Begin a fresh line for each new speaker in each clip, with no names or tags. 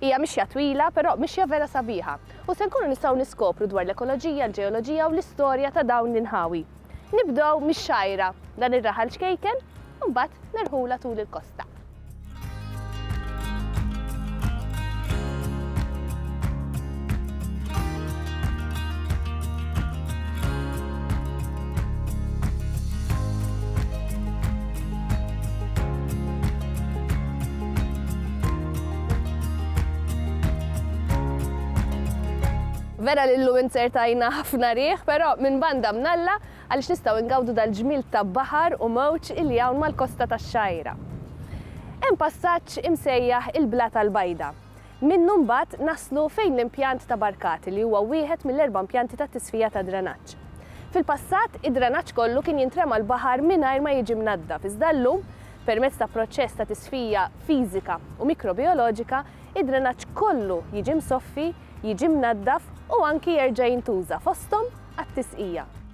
Hija mixja twila, però mixja vera sabiħa. U se nkunu nistgħu niskopru dwar l-ekoloġija, l-ġeoloġija u l-istorja ta' dawn l-inħawi. Nibdew mix-Xgħajra, dan ir-raħal ċkejken, u mbagħad nerħulha tul il-kosta. Vera li llum inzertajna ħafna riħ, però minn banda mnalla għaliex nistgħu ngawdu dal-ġmiel ta' baħar u mewġ illi hawn mal-kosta tax-Xgħajra. Hemm passaġġ imsejjaħ il-Blata l-Bajda. Minnu mbagħad naslu fejn l-impjant ta' Barkati li huwa wieħed mill-erba' impjanti ta' tisfija ta' dranaġġ. Fil-passat, id-dranaġġ kollu kien jintrema l-baħar mingħajr ma jiġi mnaddaf iżda llum, permezz ta' proċess ta' tisfija fiżika u mikrobijoloġika, id-dranaġġ kollu jiġi msoffi, jiġi mnaddaf u anki jerġa' jintuża, fosthom għat-tisqija.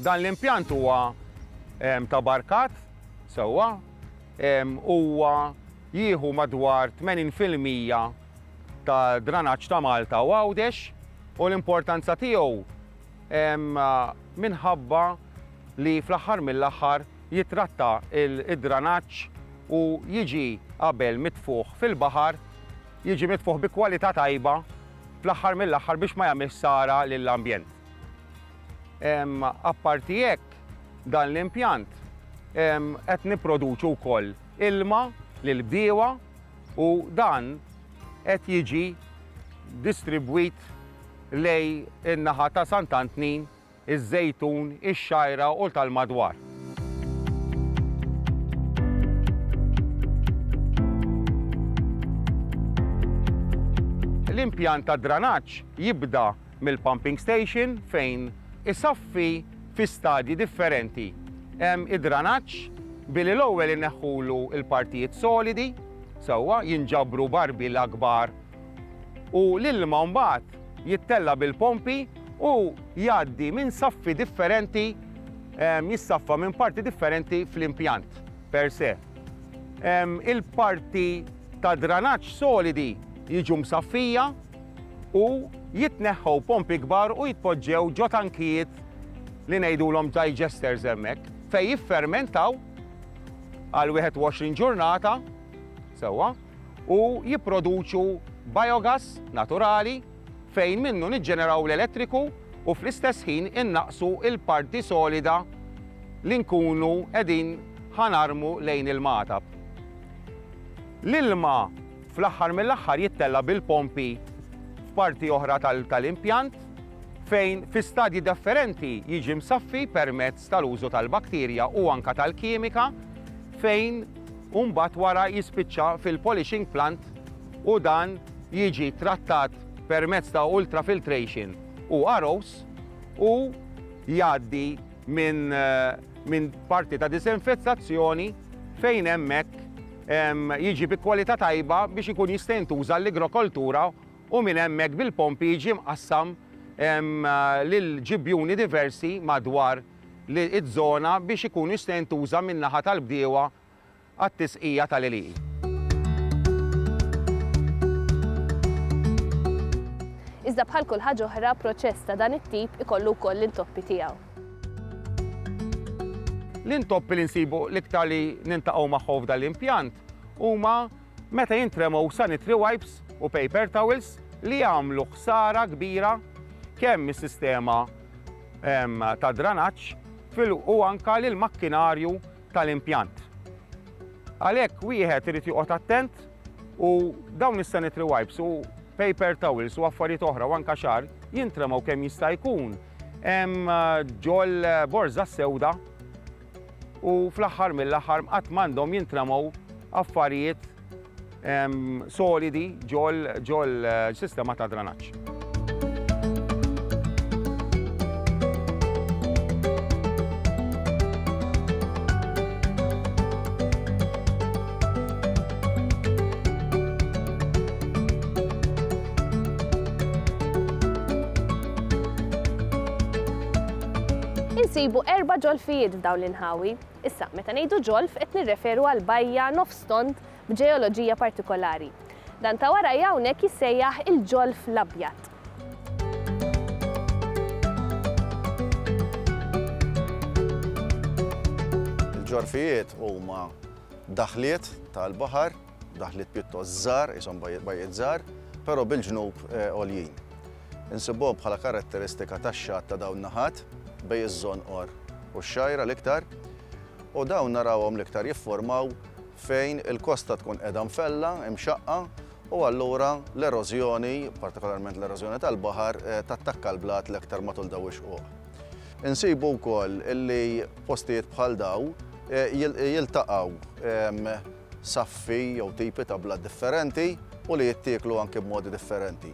Dan l-impjant huwa ta' barkat sewwa, huwa jieħu madwar 80 fil-mija ta' dranaġġ ta' Malta u Għawdex u l-importanza tiegħu minħabba li fl-aħħar mill-aħħar jittratta d-dranaġġ u jiġi qabel mitfugħ fil-baħar, jiġi mitfugħ bi kwalità tajba fl-aħħar mill-aħħar biex ma jagħmilx ħsara lill-ambjent. Apparti hekk, dan l-impjant qed nipproduċu wkoll ilma lill-bdiewa u dan qed jiġi distribwit lejn in-naħa ta' Sant' Antnin, iż-Żejtun, ix-Xgħajra u tal-madwar. L-impjant tad-dranaġġ jibda mill-pumping station fejn isaffi fi stadji differenti id-dranaġġ billi l-ewwel ineħħulu l-partijiet solidi sewwa, jinġabru barbil akbar u l-ilma mbagħad jittella' bil-pompi u jgħaddi minn saffi differenti jissaffa minn parti differenti fl-impjant per se. Il-parti tad-dranaġġ solidi jiġu msaffija, u jitneħħew pompi kbar u jitpoġġew ġo tankijiet li ngħidulhom digesters hemmhekk fejn jiffermentaw għal 21 ġurnata sewwa u jipproduċu biogas naturali fejn minnu niġġeneraw l-elettriku u fl-istess ħin innaqqsu l-parti solida li nkunu qegħdin ħa narmu lejn il-magħtab. L-ilma Fl-aħħar mill-aħħar jittella' bil-pompi f'parti oħra tal-impjant fejn fi stadji defferenti jiġi msaffi permezz tal-użu tal-bakterja u anke tal-kimika fejn u mbagħad wara jispiċċa fil-polishing plant u dan jiġi trattat permezz ta' ultrafiltration u ROs u jgħaddi minn minn parti ta' diżinfettazzjoni fejn hemmhekk jiġi bi kwalità tajba biex ikun jista' jintuża għall-igrokoltura u minn hemmhekk bil-pompi jiġi mqassam lil ġibjuni diversi madwar iż-żona biex ikun jista' jintuża min-naħa tal-bdiewa għat-tisqija tal-għelieqi. Iżda bħal kull ħaġa oħra, proċess ta' dan it-tip ikollu wkoll l-intoppi tiegħu. L-intoppi li nsibu l-iktar li nintaqgħu magħhom f'dan l-impjant huma meta jintremgħu sanitary wipes u paper towels li jagħmlu ħsara kbira kemm is-sistema ehm, ta' dranaġġ u anka lill makkinarju tal-impjant. Għalhekk wieħed irid joqgħod attent u dawn is-sanitary wipes u paper towels u affarijiet oħra u anka xar jintremgħu kemm jista' jkun Hemm ġol borża s-sewda u fl-aħħar mill-aħħar qatt m'għandhom jintramaw affarijiet solidi ġol ġol sistema ta' dranaġġ. Insibu erba' ġolfijiet f'dawn l-inħawi. Issa, meta ngħidu ġolf qed nirreferu għal bajja nofs tond b'ġeoloġija partikolari. Dan ta' warajja hawnhekk jissejjaħ il-Ġolf l-Abjad. Il-ġorfijiet huma daħliet tal-baħar. daħliet pjuttost żgħar, ishom bajjiet żgħar, però bil-ġnub għoljin. Insibuhom bħala karatteristika tax-xatt ta' dawn naħat bej iż-żonqor u x-xajra l-iktar, u dawn narawhom l-iktar jifformaw fejn il-kosta tkun qiegħda mfella, imxaqqa, u allura l-erożjoni, partikolarment l-erożjoni tal-baħar, eh, tattakka l-blat l-iktar matul daw ix-xquq. Insibu wkoll li postijiet bħal daw eh, jiltaqgħu ehm, saffi jew tipi ta' blat differenti u li jittieklu anki b'modi differenti.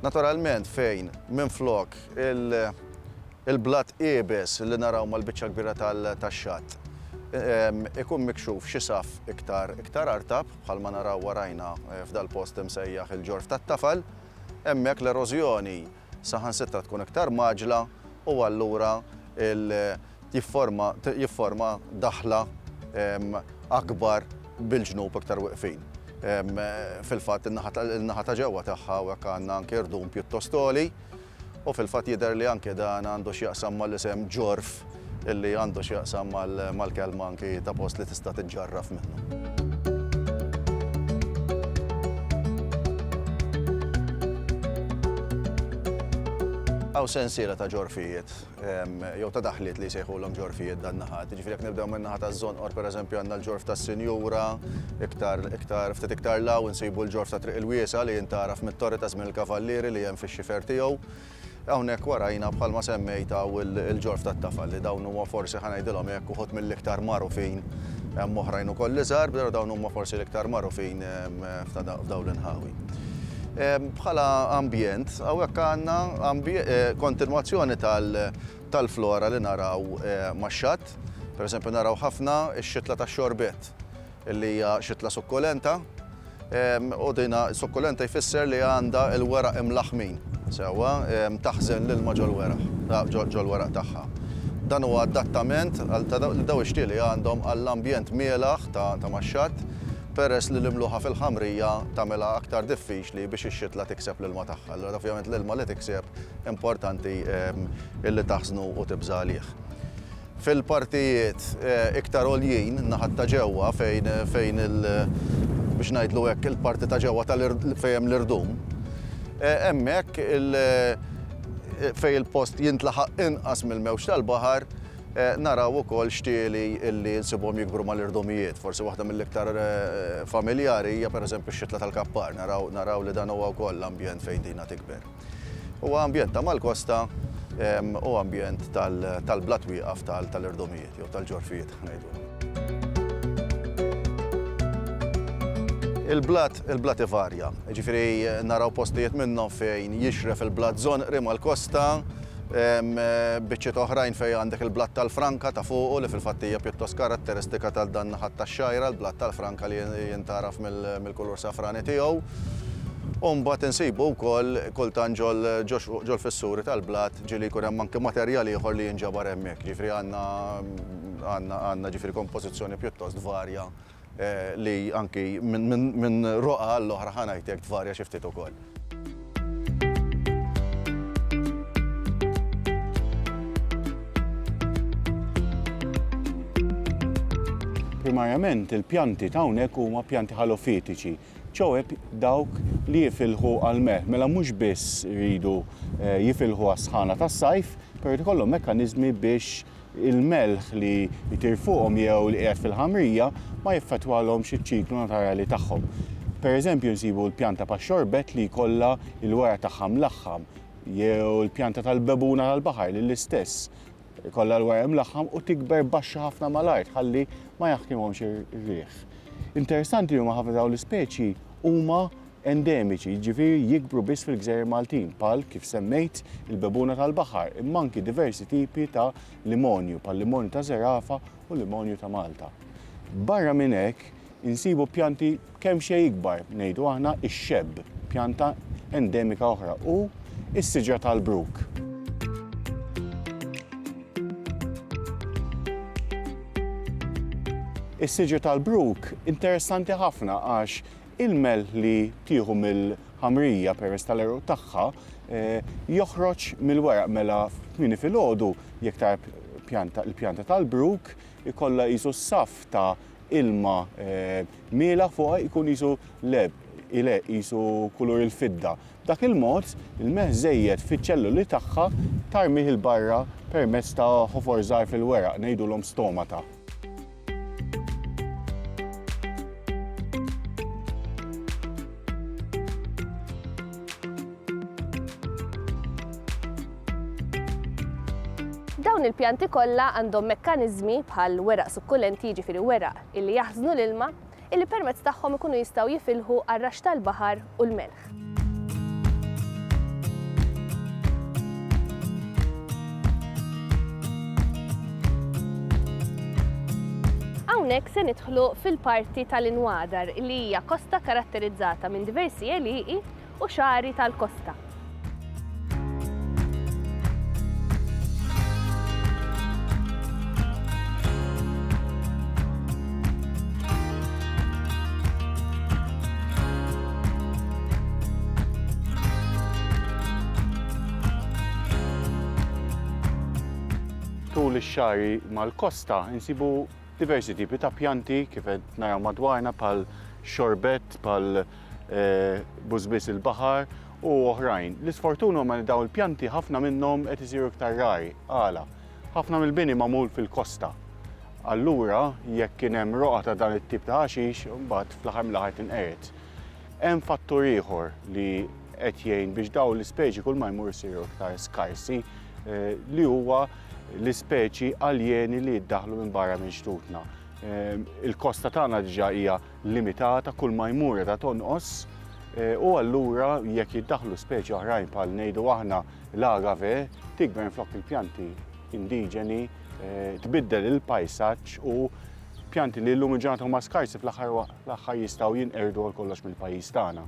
Naturalment fejn minflok il-blat iebes li naraw mal-biċċa l-kbira tax-xatt ikun mikxuf xi saff iktar artab bħalma naraw warajna f'dal-post imsejjaħ il-Ġorf tat-Tafal, hemmhekk l-erożjoni saħansitra tkun iktar mgħaġġla u allura jifforma daħla akbar bil-ġnub iktar wieqfin. Fil-fatt in-naħa ta' ġewwa tagħha hawnhekk għandna anke irdum pjuttost għoli u fil-fatt jidher li anke dan għandu x'jaqsam mal-isem ġorf. li għandu x'jaqsam mal-kelma anki ta' post li tista' tiġġarraf minnu. Hawn sensiela ta' ġorfijiet jew ta' daħliet li jsejħulhom ġorfijiet dan naħat. Jiġifieri jekk nibdew minn naħa taż-żonqor pereżempju għandna l-ġorf tas-Sinjura, iktar iktar ftit iktar 'l hawn insibu l-ġorf ta' Triq il-Wiesgħa li jintgħaraf mit-torri ta' żmien il-Kavallieri li hemm fix-xifer tiegħu. Hawnhekk warajna bħalma semmejt hawn il-ġorf tat-tafal li dawn huma forsi ħa ngħidilhom hekk uħud mill-iktar magħrufin hemm oħrajn ukoll iżgħar però dawn huma forsi l-iktar magħrufin f'dawn l-inħawi. Bħala ambjent hawnhekk għandna kontinwazzjoni tal-flora li naraw max-xatt. Pereżempju naraw ħafna x-xitla tax-xorbett. li hija xitla sukkulenta, u din sukkulenta jfisser li għandha l-weraq imlaħħmin sewwa, taħżen l-ilma ġol-weraq, ġol-weraq tagħha. Dan huwa adattament għal ta' dawn ix-xtieli li għandhom għall-ambjent mielaħ ta' max-xatt, peress li l-imluħa fil-ħamrija tagħmilha aktar diffiċli biex ix-xitla tikseb l-ilma tagħha. Allura dan ovvjament l-ilma li tikseb importanti li taħżnu u tibża' għalih. Fil-partijiet iktar għoljin, naħat ta' ġewwa, fejn, fejn il, biex ngħidlu hekk, il-parti ta' ġewwa tal, fejn hemm l-irdum, hemmhekk il, fejn il-post jintlaħaq inqas mill-mewġ tal-baħar, naraw ukoll xtieli li nsibuhom jikbru mal-irdumijiet. Forsi waħda mill-iktar familjari hija pereżempju x-xitla tal-kappar. Naraw, naraw li dan huwa wkoll ambjent fejn dina tikber. Huwa ambjent ta' mal-kosta u ambjent tal-blat wieqaf tal-irdumijiet jew tal-ġorfijiet ngħidulhom. Il-blat, il-blat ivarja, jiġifieri naraw postijiet minnhom fejn jixref il-blat żonqri mal-kosta, biċċiet oħrajn fejn għandek il-blat tal-franka ta' fuqu li fil-fatt hija pjuttost karatteristika ta' dan naħat tax-Xgħajra, il-blat tal-franka li jintgħaraf mill. kulur safrani tiegħu, u mbagħad insibu wkoll kultant ġol ġol-fissuri tal-blat ġieli jkun hemm anki materjal ieħor li jinġabar hemmhekk. Ġifieri għandna għandna għandna ġifieri kompożizzjoni pjuttost varja li anki minn minn minn roqgħa għall-oħra ħa ngħid hekk tvarja xi ftit ukoll. Primarjament il-pjanti ta' hawnhekk huma pjanti ħalofitiċi, ċoe dawk li jifilħu għall-melħ. Mela mhux biss iridu eh, jifilħu għas-sħana tas-sajf, però jrid ikollhom mekkaniżmi biex il-melħ li jtir fuqhom jew li qiegħed fil-ħamrija ma jaffettwalhomx iċ-ċiklu naturali tagħhom. Pereżempju nsibu l-pjanta pax-xorbett li jkollha l-wara tagħha mlaħħam jew il-pjanta tal-bebuna tal-baħar li l-istess ikollha l-wara mlaħħam u tikber baxxa ħafna mal-art ħalli ma jaħkimhomx ir-riħ. Interessanti li huma ħafna dawn l-ispeċi huma endemiċi, jiġifieri jikbru biss fil-gżejjer Maltin, bħal kif semmejt il-bebuna tal-baħar, imma anki diversi tipi ta' limonju, bħal-limonju ta' Zerafa u limonju ta' Malta. Barra minn hekk, insibu pjanti kemxejn ikbar, ngħidu aħna ix-xebb, pjanta endemika oħra, u s-siġra tal-bruk. Is-siġra tal-bruk interessanti ħafna għax Il-melħ li tieħu mill-ħamrija peress tal-għeruq tagħha joħroġ mill-weraq mela kmieni filgħodu jekk tara pjanta il-pjanta tal-bruk ikollha qisu saff ta' ilma mielaħ fuqha jkun qisu leb ileh qisu kulur il-fidda. B'dak il-mod, il-melħ żejjed fiċ-ċelluli tagħha tarmih 'il barra permezz ta' ħofor żgħar fil-weraq, ngħidulhom stomata. Dawn il-pjanti kollha għandhom mekkaniżmi bħal weraq sukkulenti jiġifieri weraq illi jaħżnu l-ilma illi permezz tagħhom ikunu jistgħu jifilħu għar-raxx tal-baħar u l-melħ. Hawnhekk se nidħlu fil-parti tal-inwadar li hija kosta karatterizzata minn diversi għelieqi u xagħri tal-kosta. Tul ix-xagħri mal-kosta insibu diversi tipi ta' pjanti kif qed naraw madwarna bħal xorbett, bħal eh, bużbiż il-baħar u oħrajn. L-isfortun huma li daw il-pjanti ħafna minnhom qed isiru iktar rari. Għala, ħafna mill-bini magħmul fil-kosta. Allura, jekk kien hemm roqa ta' dan it-tip ta' ħaxix, mbagħad fl-aħħar mill-aħħar tinqered. Hemm fattur ieħor li qed jgħin biex daw l-ispeċi kull ma jmur isiru iktar skarsi eh, li huwa l-ispeċi aljeni li jiddaħlu minn barra minn xtutna. Ehm, il-kosta tagħna diġà hija limitata kull ma jmur qiegħda tonqos u allura jekk jiddaħħlu speċi oħrajn bħal ngħidu aħna l-agave tikber minflok il-pjanti indiġeni tbiddel il-pajsaġġ u pjanti li llum il-ġurnata huma skarsi fl-aħħar l-aħħar jistgħu jinqerdu għal kollox mill-pajjiż tagħna.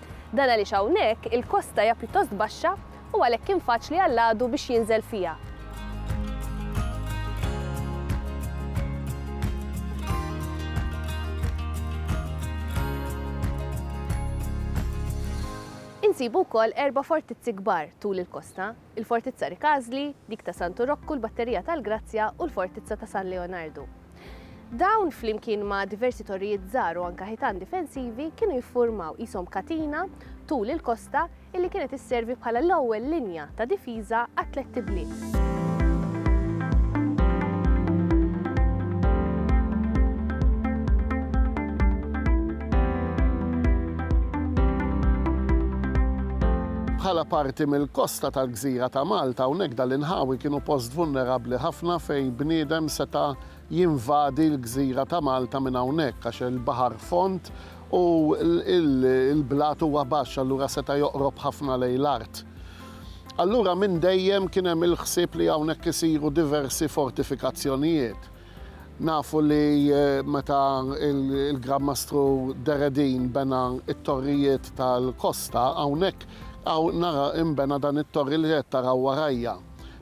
Dan għaliex hawnhekk il-kosta hija pjuttost baxxa u għalhekk kien faċli għall-għadu biex jinżel fiha. Insibu wkoll erba' fortizzi kbar tul il-kosta. il-Fortizza Ricasli, dik ta' Santu Rokku, l-Batterija tal-Grazzja u l-Fortizza ta' San Leonardu. Dawn, flimkien ma' diversi torrijiet żgħar u anke ħitan difensivi, kienu jiffurmaw qishom katina tul il-kosta illi kienet isservi bħala l-ewwel linja ta' difiża għat-tlett ibliet. Bħala parti mill-kosta tal-gżira ta' Malta, hawnhekk dan l-inħawi kienu post vulnerabbli ħafna fejn bniedem seta' jinvadi l-gżira ta' Malta minn hawnhekk għax il-baħar fond u l-blat huwa baxx allura seta' joqrob ħafna lejn l-art. Allura minn dejjem kien hemm il-ħsieb li hawnhekk isiru diversi fortifikazzjonijiet. Nafu li meta l-Gran Mastru Deredin bena t-torrijiet tal-kosta, hawnhekk hawn nara inbena dan it-torri li qed taraw warajja.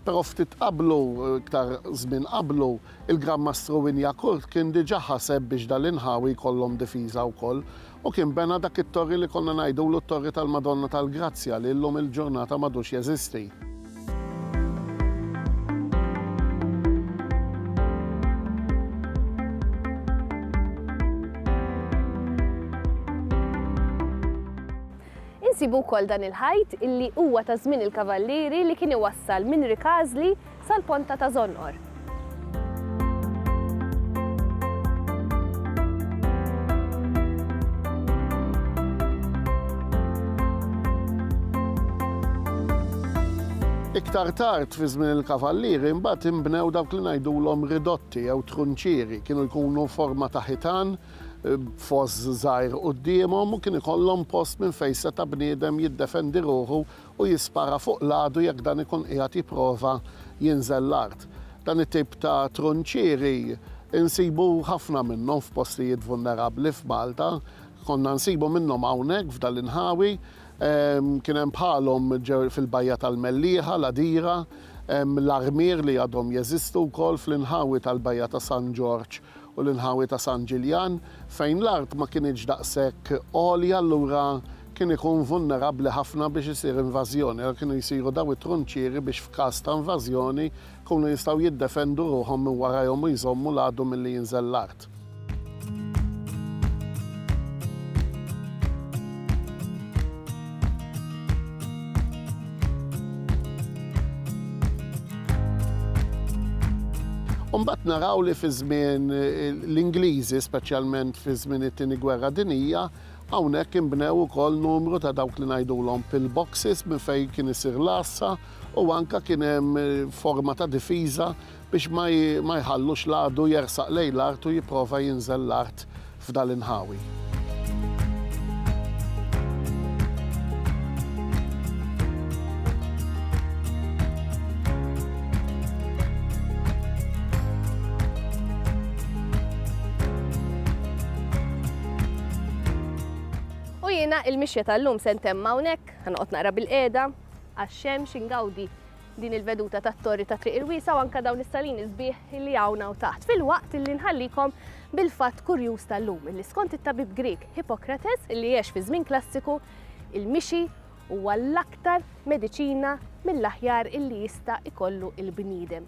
Però ftit qablu, iktar żmien qablu, il-Gran Mastru Wynyackurt kien diġà ħaseb biex dal-inħawi jkollhom difiża wkoll u kien bena dak it-torri li konna ngħidulu t-Torri tal-Madonna tal-Grazzja li llum il-ġurnata m'għadux jeżisti. Insibu wkoll dan il-ħajt illi huwa ta' żmien il-Kavallieri li kien iwassal minn Rikażli sal-ponta ta' Żonqor. Iktar tard fi żmien il-Kavallieri mbagħad inbnew dawk li ngħidulhom ridotti jew trunċieri. Kienu jkunu forma ta' ħitan b'foss żgħir quddiemhom u kien ikollhom post minn fejn seta' bniedem jiddefendi ruħu u jispara fuq l-għadu jekk dan ikun qiegħed jipprova jinżel l-art. Dan it-tip ta' trunċieri nsibu ħafna minnhom f'postijiet vulnerabbli f'Malta. Konna nsibu minnhom hawnhekk f'dan l-inħawi. Kien hemm bħalhom fil-Bajja tal-Mellieħa, l-Għadira, hemm l-armier li għadhom jeżistu wkoll fl-inħawi tal-Bajja ta' San Ġorġ u l-inħawi ta' San Ġiljan fejn l-art ma kinitx daqshekk għolja allura kien ikun vulnerabbli ħafna biex isir invażjoni għalhekk kienu jsiru dawn it-trunċieri biex f'każ ta' invażjoni jkunu jistgħu jiddefendu ruħhom minn warajhom u jżommu l-għadu milli jinżel l-art. U mbagħad naraw li fi żmien l-Ingliżi, speċjalment fi żmien it-Tieni Gwerra Dinjija, Hawnhekk inbnew ukoll numru ta' dawk li ngħidulhom pill boxes minn fejn kien isir l-għassa u anke kien hemm forma ta' difiża biex ma jħallux l-għadu jersaq lejn l-art u jipprova jinżel l-art f'dan l-inħawi. U jiena il-mixja tal-lum se ntemm hawnhekk, ħa noqgħod naqra bilqiegħda għax-xemx ingawdi din il-veduta tat-torri ta' Triq il-Wiesgħa u anke dawn is-salini sbieħ li hawn hawn taħt, filwaqt illi nħallikom bil-fatt kurjuż tal-lum illi skont it-tabib Grieg Hippocrates illi għex fiż-żmien klassiku, il-mixi huwa l-aktar mediċina mill-aħjar illi jista' ikollu l-bniedem.